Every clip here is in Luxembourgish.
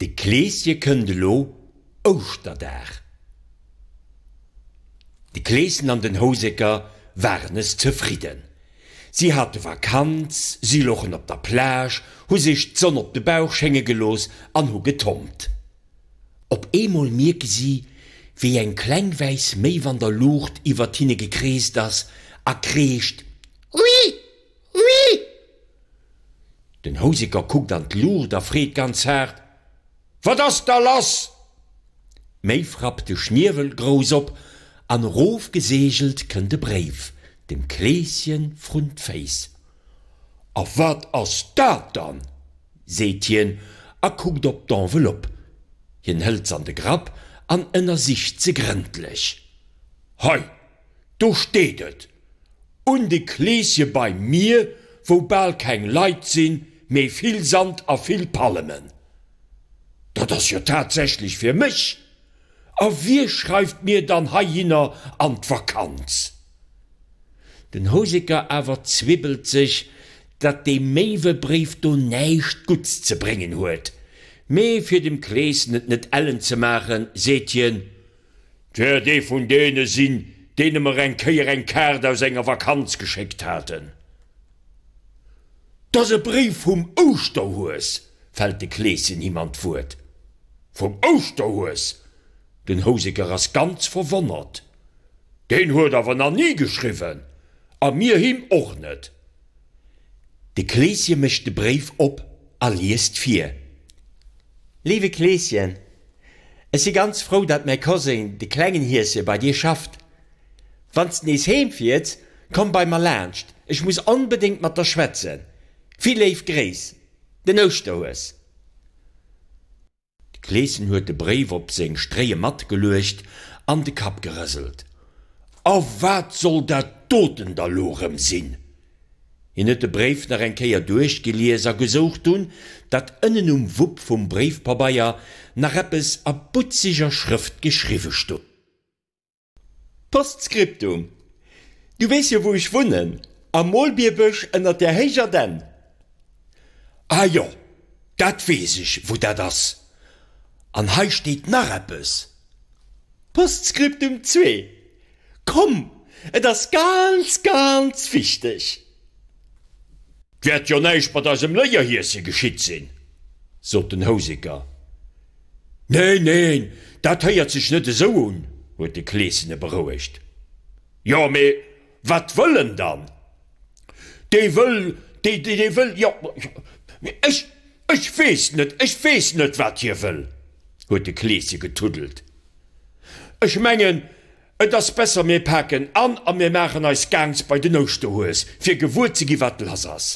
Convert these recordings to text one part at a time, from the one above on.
De Kleesje kënnt elo Ouschterdag. De Kleeschen an den Houseker waren nes zefridden. Si hate Vakanz, si lochen op der Plage, hu sech d'Sonn op de Bauch schénge gelooss an hu getompt. Op eemol mierke si, wéi eng kleng wäiss Méiw an der Luucht iwwert hinne gekreest ass a kreescht, Ui! Oui! Den Houseker kuckt an d'Luucht a freet ganz haart, Wat ass da lass? Méi frappt de Schniewel grouss op an erof geseegelt kënnt e Bréif dem Kleeschen vrun d'Féiss. A wat ass dat dann? seet hien a kuckt op d'Enveloppe. Hien hëlt s'an de Grapp an ënnersicht se grëndlech. Hei! Do steet et, un de Kleesje beim Mier, wou bal keng Leit sinn, mee vill Sand a vill Palmen. Dat ass jo tatsächlech fir mech. A wie schreift mir dann heihinner an d'Vakanz? Den Houseker awer zwibbelt sech, datt dee Méiwebréif do näischt Gutts ze bréngen huet, mee fir dem Kleeschen et net ellen ze maachen, seet hien, D'wäert ee vun deene sinn, deene mer eng Kéier eng Kaart aus enger Vakanz geschéckt haten. T ass e Bréif vum Ouschterhues, fält de Kleeschen him an d'Wuert. Vum Ouschterhues? Den Houseker ass ganz verwonnert. Deen huet awer nach ni geschriwwen, a mir him och net. De Kleeschen mécht de Bréif op a liest vir. Léiwe Kleeschen, Ech si ganz frou, datt mäi Koséin, de klengen Hieschen, bei dir schafft. Wann s de nees heem fiers, komm bei mer laanscht, ech muss onbedéngt mat der schwätzen. Vill léif Gréiss. Den Ouschterhues. D'Kleeschen huet de Bréif op seng Stréie matgeluecht an de Kapp gerëselt. A wat soll dat doten da lo rëm sinn? Hien huet de Bréif nach eng Kéier duerchgelies a gesouch, dunn dat ënnen um Wupp vum Bréifpabeier nach eppes a butzeger Schrëft geschriwwe stoung. Postskriptum, Du weess jo wou ech wunnen, am Molbierbësch ënnert der héijer Dänn. Ah jo, dat weess ech wou dat ass. An hei steet nach eppes. Postskriptum zwee, Komm, et ass ganz, ganz wichteg. T wäert jo näischt mat eisem Léierhieschen geschitt sinn, sot den Houseker. Neen, neen, dat héiert sech net esou un, huet de Kleeschen e berouegt. Jo, mee wat wëll en dann? Dee wëll, dee wëll, jo, ech, ech weess net, ech weess net, wat hie wëll, huet de Kleeschen getuddelt. Ech mengen. Et ass besser mir paken an a mir maachen eis gaangs bei den Ouschterhues fir gewuer ze gi wat lass ass.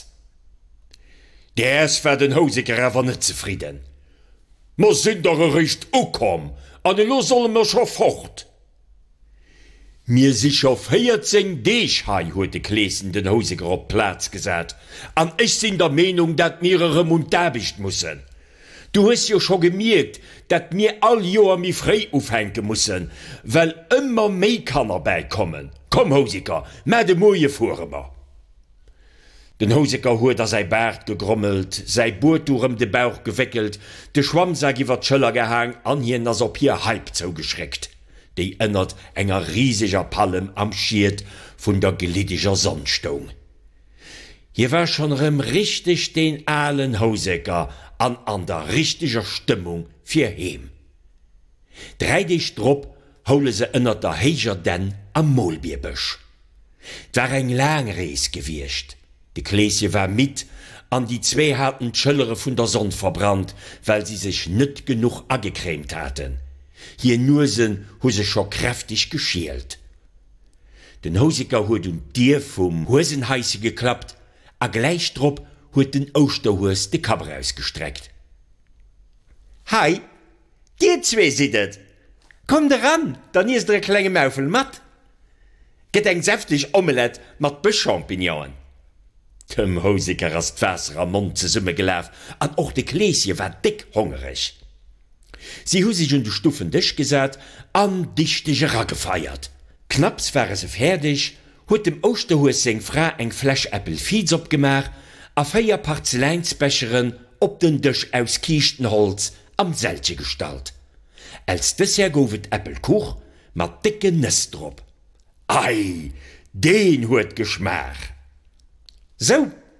Däers war den Houseker awer net zefridden, Mer sinn dach eréischt ukomm an elo solle mer scho fort. Mir si scho 14 Deeg hei, huet de Kleeschen den Houseker op d'Plaz gesat, an ech sinn der Meenung dat mir erëm un d'Aarbecht mussen. Du hues jo scho gemierkt, dat mir all Joer méi fréi ufänke mussen, well ëmmer méi Kanner bäikommen. Komm Houseker, mä de Moie fuere mer. Den Houseker huet a säi Baart gegrommelt, säi Buetuch ëm de Bauch gewéckelt, de Schwammsak iwwer d'Schëller gehaang an hien ass op hir Haip zougeschréckt, déi ënnert enger riseger Pallem am Schiet vun der gliddeger Sonn stoung. Hie war schonn erëm richteg deen alen Houseker an an der richteger Stëmmung fir heem. Dräi Deeg drop houle se ënnert der héijer Dänn am Molbierbësch. 't war eng laang Rees gewiescht, de Kleesje war midd an déi zwee haten d'Schëllere vun der Sonn verbrannt, well si sech net genuch agecrèmt haten. Hir Nuesen hu sech scho kräfteg geschielt. Den Houseker huet un d'Dier vum Huesenhaische geklappt a gläich drop huet den Ouschterhues de Kapp erausgestreckt. Hei, dir zwee sidd et! Kommt eran, dann iesst der e klenge Maufel mat. Gëtt eng säfteg Omelett mat Bëschchampignonen. Dem Houseker ass d'Waasser am Mond zesummegelaf an och de Kleeschen war déck hongereg. Si hu sech un de stuffen Dësch gesat an dichteg eragefeiert. Knapps ware se fäerdeg, huet dem Ouschterhues seng Fra eng Fläsch Äppel Viz opgemaach a véier Parzeläinsbecheren op den Dësch aus Kiischtenholz am Sälche gestallt. Als Dessert gouf et Äppelkuch mat décke Nëss drop. Ei, deen huet geschmaach! Sou!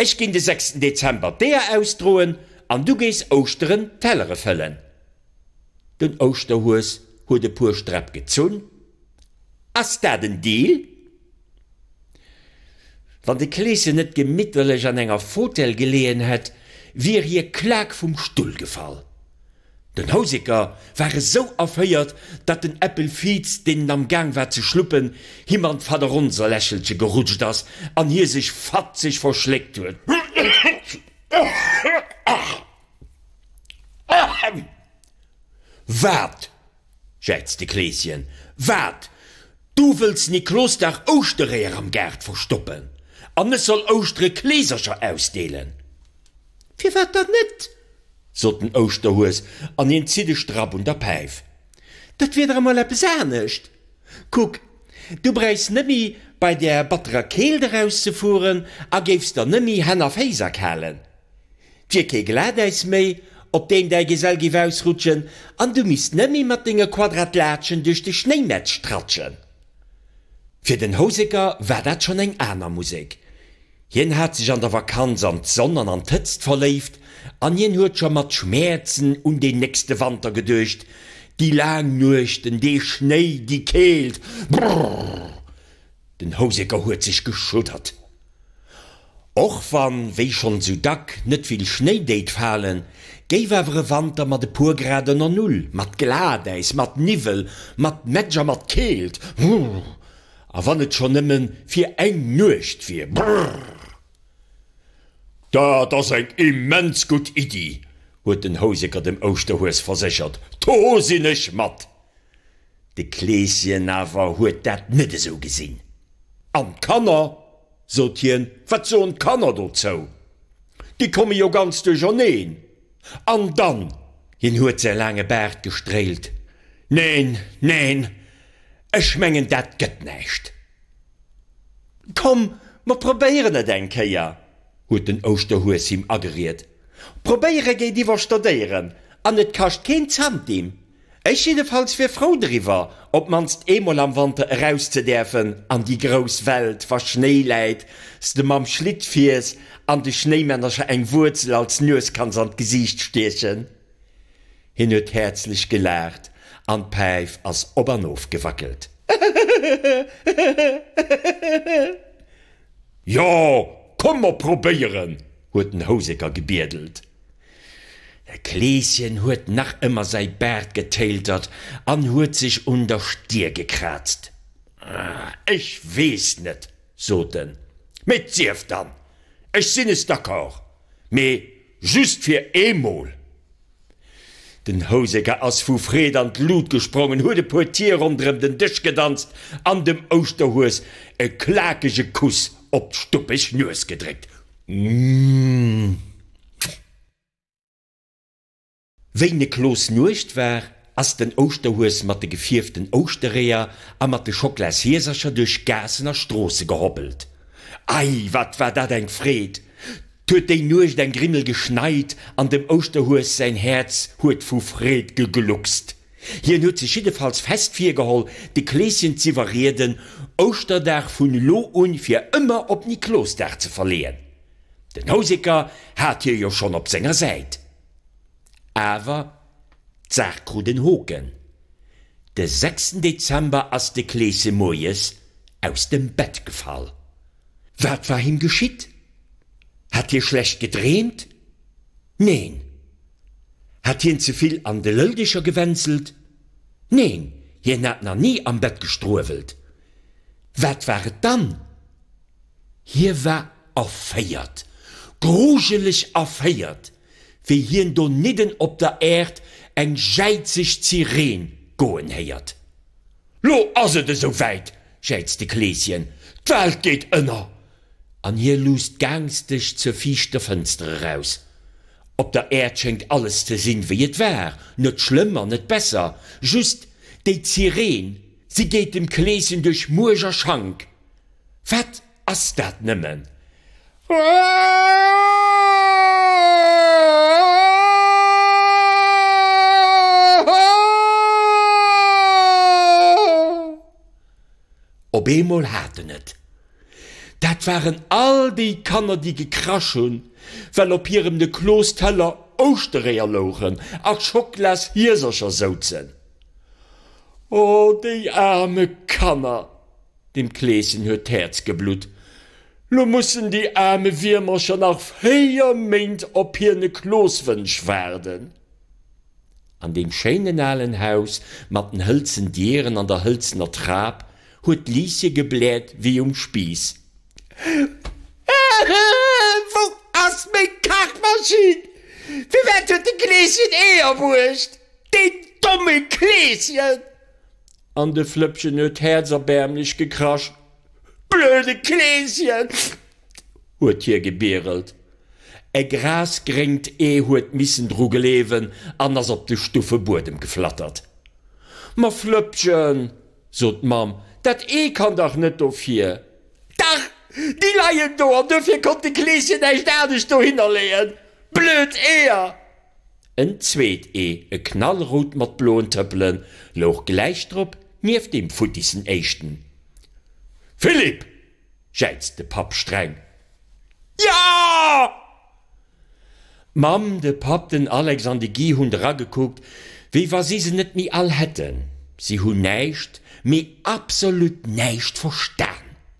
Ech ginn de sechsten Dezember d'Eeër ausdroen an du gees Ouschteren d'Tellere fëllen. Den Ouschterhues huet e puer Sträpp gezunn. Ass dat en Deal? Wann de Kleeschen net gemitterlech an enger Fotell geleeën hätt, wier hie klak vum Stull gefall. Den Houseker war esou erféiert, datt den Äppel Viiz, deen en am Gaang war ze schluppen, him an d'Vaderonserlächelche gerutscht ass an hie sech fatzeg verschléckt huet. Wat! Schätzt de Kleeschen, Wat? Du wëlls Niklosdag Ouschtereeër am Gaart verstoppen an ech soll Ouschtere Kleesercher ausdeelen? Firwat dann net? sot den Ouschterhues an hien zitt e Strapp un der Päif. Dat wier dach emol eppes anescht. Kuck, du bräichs nëmmi bei der batterer Keelt erauszefueren a géifs der nëmmi Hänn a Féiss erkalen. D'wier kee Glatäis méi, op deem däi Gesell giff ausrutschen, an du misst nëmmi mat denge Quadratlatschen duerch de Schnéimätsch tratschen. Fir den Houseker war dat schonn eng aner Musek. Hien hat sech an der Vakanz an d'Sonn an an d'Hëtzt verléift, an hien huet scho mat Schmäerzen un deen nächste Wanter geduecht, déi laang Nuechten, dee Schnéi, déi Keelt. Brrrr! Den Houseker huet sech geschuddert. Och wann, wéi schonn sou dack, net vill Schnéi déit falen, géif awer e Wanter mat e puer Grad ënner Null, mat Glatäis, mat Niwwel, mat Nettsch a mat Keelt, brrr, a wann et schonn nëmme fir eng Nuecht wier, brrr. Dat ass eng immens gutt Iddi, huet den Houseker dem Ouschterhues verséchert, do sinn ech mat. De Kleeschen awer huet dat net esou gesinn. An d'Kanner? sot hien, wat soen d'Kanner dozou? Déi komme jo ganz duercherneen. An dann, hien huet säi laange Baart gestréilt, Neen, neen, ech mengen dat gëtt näischt. Komm, mer probéieren et eng Kéier, huet den Ouschterhues him ageriet. Probéiere geet iwwer Stodéieren an et kascht keen Zantim. Ech jiddefalls wier frou driwwer, op d'mannst eemol am Wanter eraus ze däerfen an déi grouss Welt, wa Schnéi läit, s de mam Schlitt fiers an de Schnéimännercher eng Wuerzel als Nues kanns an d'Gesiicht stiechen. Hien huet häerzlech gelaacht an d'Päif ass op an of gewackelt. Jo, komm mer probéieren! huet den Houseker gebiedelt. Kleeschen huet nach ëmmer säi Baart getéiltert an huet sech un der Stier gekraazt. Ech weess net, sot en, mee 't sief dann, ech sinn es d'accord, mee just fir eemol. Den Houseker ass vu Freed an d'Lut gesprongen, huet e puer Tier ronderëm den Dësch gedanzt an dem Ouschterhues e klakege Kuss op d'stuppeg Nues gedréckt. Wéi ne Kloos Nuecht war, ass den Ouschterhues mat de gefierften Ouschtereeër a mat de Schoklas-Hiesercher duerch Gaassen a Stroosse gehoppelt. Ei, wat war dat eng Freed! 't huet déi Nuecht eng Grimmel geschneit an dem Ouschterhues säin Häerz huet vu Freed gegluckst. Hien huet sech jiddefalls fest virgeholl, de Kleeschen z'iwwerrieden, Ouschterdag vun elo un fir ëmmer op Niklosdag ze verleeën. Den Houseker hat hie jo schonn op senger Säit. Awer d'Saach krut en Hoken, De sechsten Dezember ass de Kleesche moies aus dem Bett gefall. Wat war him geschitt? Hat hie schlecht gedreemt? Neen. Hat hien ze vill an de Lëlldecher gewänselt? Neen, hien hat nach ni am Bett gestruewelt. Wat war et dann? Hie war erféiert, grujeleg erféiert, wéi hien donidden op der Äerd eng jäizeg Zireen goen héiert. Lo ass et esou wäit! jäizt de Kleeschen. D'Welt geet ënner! An hie luusst gaangsteg zur viischter Fënster eraus. Op der Äerd schéngt alles ze sinn, wéi et war, net schlëmm an net besser. Just déi Zireen, si geet dem Kleeschen duerch Muerch a Schank. Wat ass dat nëmmen? Op eemol hat en et. Dat waren all déi Kanner, déi gekrasch hunn, well op hirem de Klos Teller Ouschtereeër louchen a Schoklas Hiesercher souzen. O déi aarme Kanner! Dem Kleeschen huet d'Häerz geblutt. Lo mussen déi aarme Wiermercher nach véier Méint op hiene Klooswënsch waarden. An deem schéinen alen Haus mat den hëlzen Dieren an der hëlzener Trap huet d'Liesje gebläert wéi um Spiiss, Wou ass meng Kachmaschinn? Firwat huet de Kleeschen Eeër bruecht? Deen domme Kleeschen! An de Flëppchen huet häerzerbäermlech gekrasch. Blöde Kleeschen! huet hie gebierelt. E grasgréngt Ee huet missen dru gleewen an ass op de stuffe Buedem geflattert. Ma Flëppchen, sot d'Mamm, dat Ee kann dach net dofir! Dach! Déi leien do an dofir konnt de Kleeschen näischt anescht dohinner leeën. Blöd Eeër! En zweet Ee, e knallrout mat bloen Tëppelen, louch gläich drop, nieft deem futtissen éischten. Philippe! jäizt de Papp streng. Ja! D'Mamm, de Papp, den Alex an de Guy hunn eragekuckt, wéi wa si se net méi all hätten. Si hunn näischt, mee absolut näischt verstan.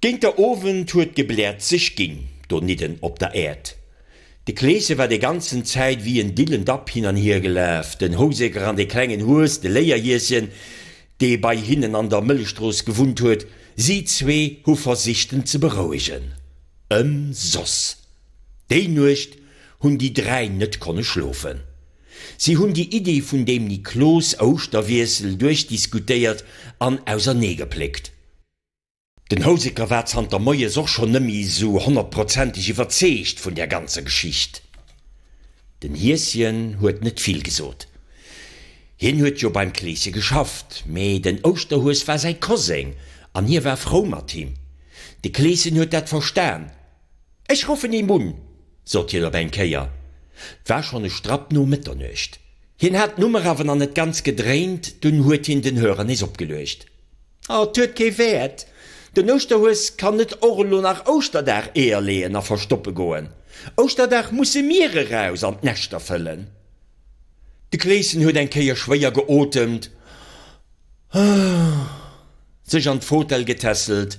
Géint der Owend huet d'Gebläert sech ginn donidden op der Äerd. De Kleesche war déi ganzen Zäit wéi en dillend Dapp hin an hier gelaf, den Houseker an de klengen Hues, de Léierhieschen, dee bei hinnen an der Mëllechstrooss gewunnt huet. Si zwee hu versicht, en ze berouegen. Ëmsoss. Déi Nuecht hunn déi dräi net konne schlofen. Si hunn déi Iddi vun deem Niklos Ouschterwiessel duerchdiskutéiert an auserneegepléckt. Den Houseker war zanter moies och schonn nëmmi esou honnertprozenteg iwwerzeegt vun där ganzer Geschicht. Den Hieschen huet net vill gesot. Hien huet jo beim Kleesche geschafft, mee den Ouschterhues war säi Koseng an hie war frou mat him. De Kleeschen huet dat verstan Ech ruffen him un, sot hien op eng Kéier. 't war schonn e Strapp no Mëtternuecht. Hien hat d'Nummer awer nach net ganz gedréint, dunn huet hien den Hörer nees opgeluecht. Ah, 't huet kee Wäert. Den Ouschterhues kann net och elo nach Ouschterdag Eeër leeën a verstoppe goen. Ouschterdag musse mir eraus an d'Näschter fëllen. De Kleeschen huet eng Kéier schwéier geotemt, sech an d'Fotell getässelt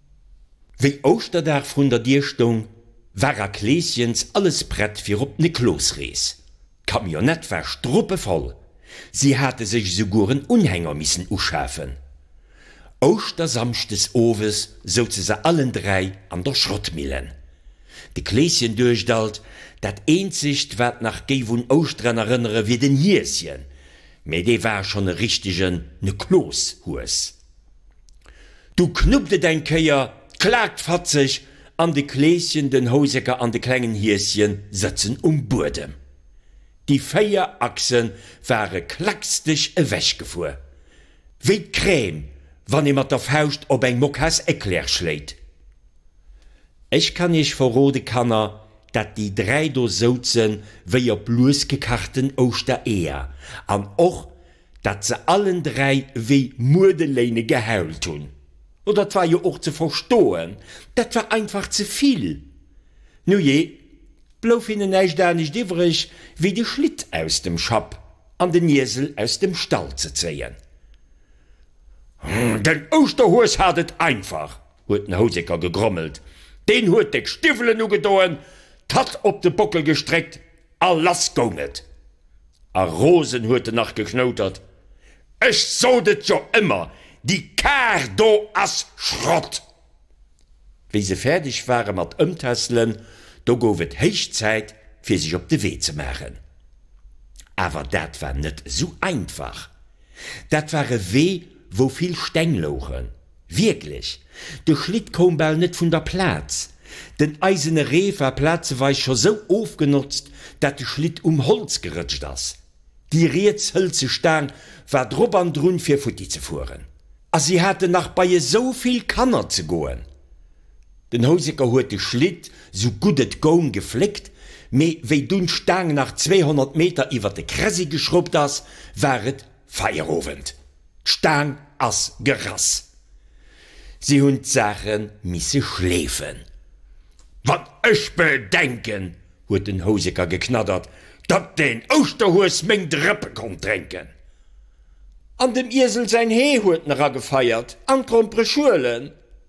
Wéi Ouschterdag vrun der Dier stoung, war a Kleeschjens alles prett fir op d'Niklosrees. D'Camionnette war struppevoll, si hate sech esouguer en Unhänger missen uschafen. Ouschtersamschdes owes souze se allen dräi an der Schrottmillen. De Kleeschen duecht alt, dat eenzegt wat nach géif un Ouschteren erënnere wier den Hieschen, mee dee war schonn e richtegen Niklos-Hues. Du knuppt et eng Kéier, klaakt fatzeg an de Kleeschen, den Houseker an de klengen Hieschen sëtzen um Buedem. Déi véier Achse ware klacksdeg ewechgefuer. Wéi d'Crème, wann ee mat der Fauscht op eng Mokas Eclair schléit. Ech kann iech verrode, Kanner, dat déi dräi do souzen wéi op lues gekachten Ouschtereeër an och dat se allen dräi wéi Muedeléine geheult hunn. Oder et war jo och ze verstoen, dat war einfach ze vill. Nujee, blouf hinnen näischt anescht iwwreg, wéi de Schlitt aus dem Schapp an den Iesel aus dem Stall ze zéien. Den Ouschterhues hat et einfach! huet den Houseker gegrommelt. Deen huet déck Stiwwelen ugedoen, d'Hatt op de Bockel gestréckt A lass goung et! A rosen huet en nach geknoutert, Ech sot et jo ëmmer, déi Kar do ass Schrott! Wéi se fäerdeg ware mat ëmtässelen, do gouf et héich Zäit, fir sech op de Wee ze maachen. Awer dat war net esou einfach. Dat war e Wee, wou vill Steng louchen. Wierklech, de Schlitt koum bal net vun der Plaz. Den eisene Reef war plazeweis scho sou ofgenotzt, dat de Schlitt um Holz gerëtscht ass. Déi riets hëlze Staang war drop an drun fir futti ze fueren. A si haten nach bei esou vill Kanner ze goen. Den Houseker huet de Schlitt sou gutt et goung gefléckt, mee wéi dunn d'Staang nach 200 Meter iwwer de Kressi geschruppt ass, war et Feierowend. D'Staang ass gerass. Si hunn d'Saache misse schleefen. Wann ech bedenken, huet den Houseker geknaddert, datt den Ouschterhues meng Drëppe konnt drénken. An dem Iesel säin Hee huet en eragefeiert an d'Grompere Schuelen.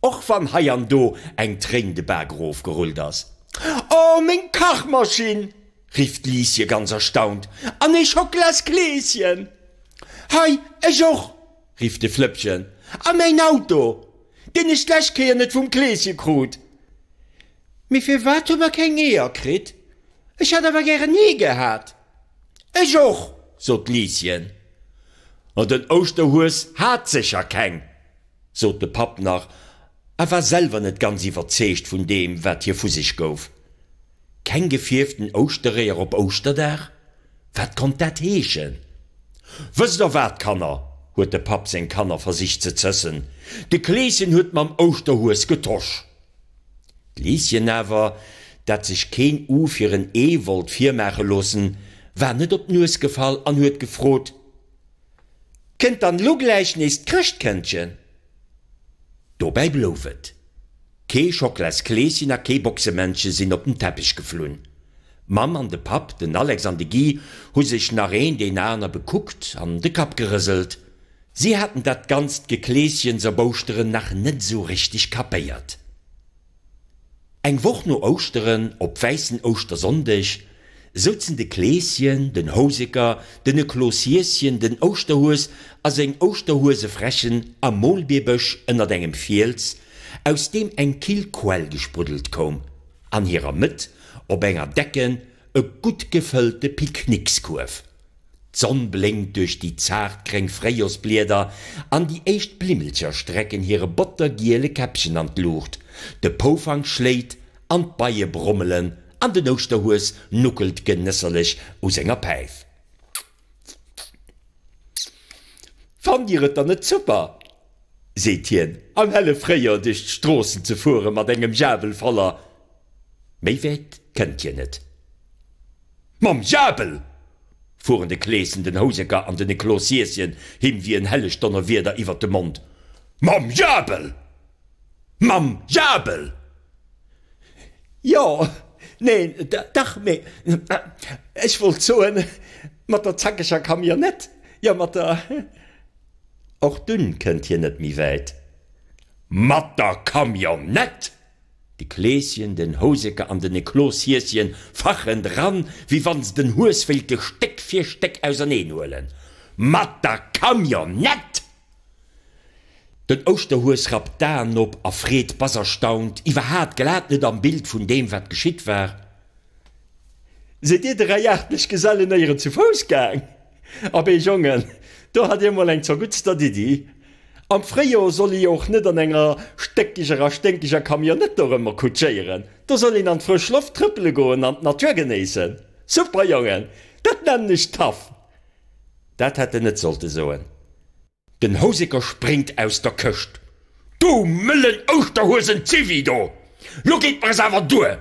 Och wann hei an do eng Tréin de Bak erof gerullt ass. Oh, meng Kachmaschinn! rifft d'Liesje ganz erstaunt. An ee Schocklaskleeschen! Hei, ech och! rifft de Flëppchen. A mäin Auto, deen ech d'lescht Kéier net vum Kleeschen krut! Mee firwat hu mer keng Eeër kritt? Ech hätt awer gären Ee gehat! Ech och! sot d'Liesjen. Oh, den Ouschterhues hat sécher keng! sot de Papp nach a war selwer net ganz iwwerzeegt vun deem, wat hie vu sech gouf. Keng gefierften Ouschtereeër op Ouschterdag? Wat konnt dat heeschen? Wësst der wat, Kanner, huet de Papp seng Kanner versicht ze zëssen, de Kleeschen huet mam Ouschterhues getosch. D'Lieschen awer, dat sech keen U fir en Ee wollt virmaache loossen, war net op d'Nues gefall an huet gefrot, Kënnt dann lo gläich nees d'Chrëschtkëndchen? Dobäi blouf et. Kee Schocklaskleeschen a kee Boxemännche sinn op den Teppech geflunn. D'Mamm an de Papp, den Alex an de Guy, hu sech nach een deen aner bekuckt an de Kapp gerëselt. Si haten dat ganzt Gekleeschens op Ouschteren nach net esou richteg kapéiert. Eng Woch no Ouschteren, op wäissen Ouschtersonndeg, souzen de Kleeschen, den Houseker, den e Kloos Hieschen, den Ouschterhues a seng Ouschterhuesefrächen am Molbierbësch ënnert engem Fiels, aus deem eng kill Quell gespruddelt koum, an hirer Mëtt op enger decken, e gutt gefëllte Picknickskuerf. D'Sonn blénkt duerch déi zart gréng Fréijorsblieder an déi éischt Blimmelcher strecken hire bottergiele Käppchen an d'Luucht. De Poufank schléit an d'Beie brommelen an den Ouschterhues nuckelt genësserlech u senger Päif. Fannt Dir et dann net super, seet hien, am helle Fréijoer duerch d'Stroossen ze fuere mat engem Jabel voller? Méi wäit kënnt hien net. Mam Diabel! fuhren de Kleeschen, den Houseker an den Eclos Hieschen him wéi en helleg Donnerwieder iwwert de Mond. Mam Diabel! Mam Diabel! Jo, neen, dach, mee ech wollt soen, mat der zackeger Camionnette, jo, mat der. Och dunn kënnt hien net méi wäit. Mat der Camionnette! De Kleeschen, den Houseke an den Ekloshieschen fachen dran, wéi wann se den Hues wéilte Stéck fir Stéck auserneen huelen. Mat der Camionnette! Den Ouschterhues rappt d'Aen op a freet bass erstaunt, Iwwerhaat glat net am Bild vun deem, wat geschitt war! Sidd dir dräi aartlech Gesellen éieren zu Fouss gaang? Abee Jongen, do hat dir mol eng zerguttstert Iddi. Am Fréijor soll ee jo och net an enger stéckeger a sténkeger Camionnette dorëmmer kutschéieren. Do soll een an d'frësch Loft trëppele goen an d'Natur genéissen. Super Jongen, dat nennen ech tough! Dat hätt en net sollte soen. Den Houseker spréngt aus der Këscht, Du mëllen Ouschterhuesen Zivi do! Lo geet mer es awer duer!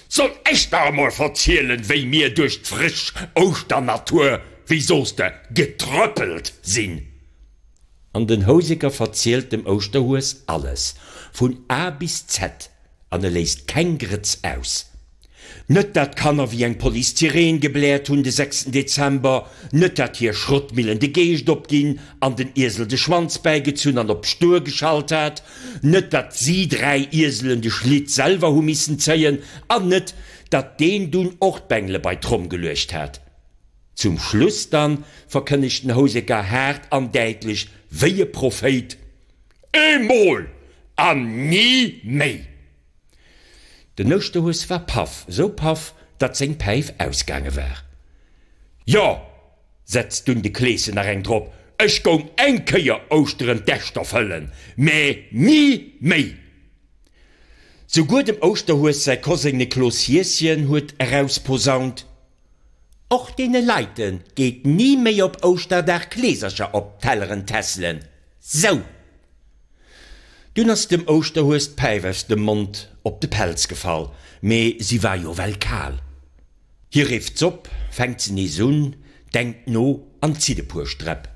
Soll ech der emol verzielen, wéi mir duerch d'frësch Ouschternatur, wéi soss de, getrëppelt sinn? An den Houseker verzielt dem Ouschterhues alles, vun A bis Z. an e léisst keng Grëtz aus. Net dat d'Kanner wéi eng Police-Sireen gebläert hunn de sechsten Dezember, net dat hir Schrottmillen de Geescht opginn an den Iesel de Schwanz bäigezunn an op stur geschalt hat, net dat si dräi Ieselen de Schlitt selwer hu missen zéien an net dat deen dunn och d'Bengele bei d'Tromm geluecht hat. Zum Schluss dann verkënnegt den Houseker haart an däitlech wéi e Prophéit, Emol! An ni méi! Den Ouschterhues war paff, sou paff, datt seng Päif ausgaange war. Jo! setzt dunn de Kleeschen nach eng drop, ech goung eng Kéier Ouschteren d'Äschter fëllen, mä ni méi! Souguer dem Ouschterhues säi Koseng Niklos Hieschen huet erausposaunt, Och deene Leite geet ni méi op Ouschterdag Kleesercher op d'Telleren tesselen. Sou! Dunn ass dem Ouschterhues d'Päif aus dem Mond op de Pelz gefall, mee si war jo well kal. Hie rifft s'op, fänkt se nees un, denkt no an zitt e puer Sträpp.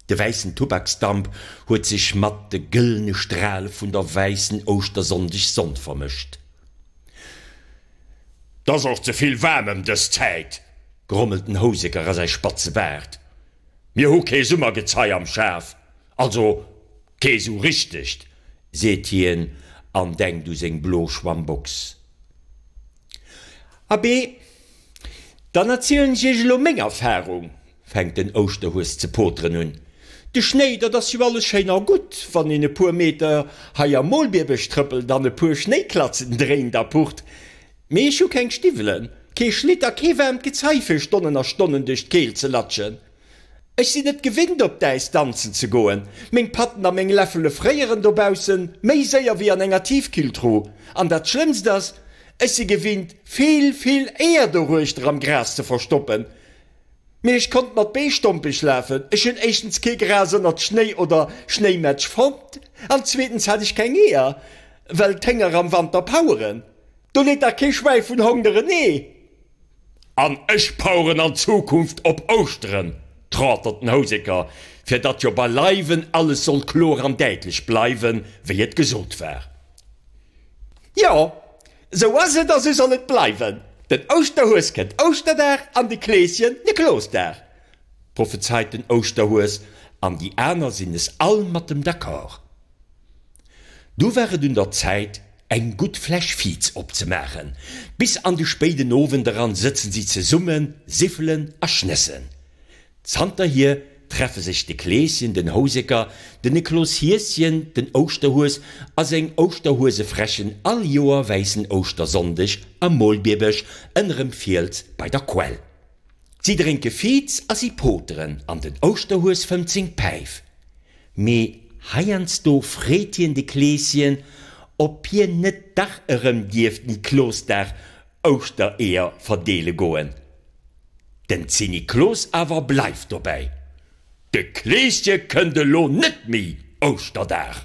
De wäissen Tubaksdamp huet sech matt de gëllene Strale vun der wäissen Ouschtersonndegssonn vermëscht. T'ass och ze vill waarm ëm dës Zäit, grommelt den Houseker a säi spatze Baart. Mir hu kee Summergezei am Schaf, also kee sou richtegt, seet hien an denkt u seng blo Schwammbox. Abee, dann erzielen ech iech elo meng Erfarung, fänkt den Ouschterhues ze poteren un. De Schnéi, dat ass jo alles schéin a gutt, wann een e puer Meter hei am Molbierbësch trëppelt an e puer Schnéiklatzen dréint a pucht, mee ech hu keng Stiwwelen, kee Schlitt a kee waarmt Gezei fir Stonnen a Stonnen duerch d'Keelt ze latschen. Ech sinn et gewinnt op d'Äis danzen ze goen. Meng Patten a meng Läffele fréieren dobaussen méi séier wéi an enger Tiefkühltruh. An dat schlëmmst ass, ech si gewinnt vill, vill Eeër doruechter am Gras ze verstoppen. Mee ech konnt mat Bee stompeg lafen. Ech hunn éischtens kee Gras ënnert Schnéi oder Schnéimätsch fonnt an zweetens hat ech keng Eeër, well d'Hénger am Wanter paueren. Do leet dach kee Schwäi vun Hongder en Ee. An ech paueren an Zukunft op Ouschteren, trauert den Houseker, fir datt jo beileiwen alles soll kloer an däitlech bleiwen, wéi et gesot war. Jo, esou ass et a sou soll et bleiwen, den Ouschterhues kënnt Ouschterdag an de Kleeschen Niklosdag, prophezeit den Ouschterhues, an déi aner sinn es all mat em d'accord. Do war et un der Zäit, eng gutt Fläsch Viz opzemaachen. Bis an de spéiden Owend eran sëtzen si zesummen, siffelen a schnëssen. Zanterhier treffe sech de Kleeschen, den Houseker, den Niklos Hieschen, den Ouschterhues a seng Ouschterhuesefrächen all Joer wäissen Ouschtersonndeg am Molbierbesch ënnerem Fiels bei der Quell. Si drénke Viz a si poteren an den Ouschterhues fëmmt seng Päif. Mee heiansdo freet hien de Kleeschen, ob hien net dach erëm dierft Niklosdag Ouschtereeër verdeele goen. Den Zniklos awer bleift dobäi, De Kleesche kënnt elo net méi Ouschterdag.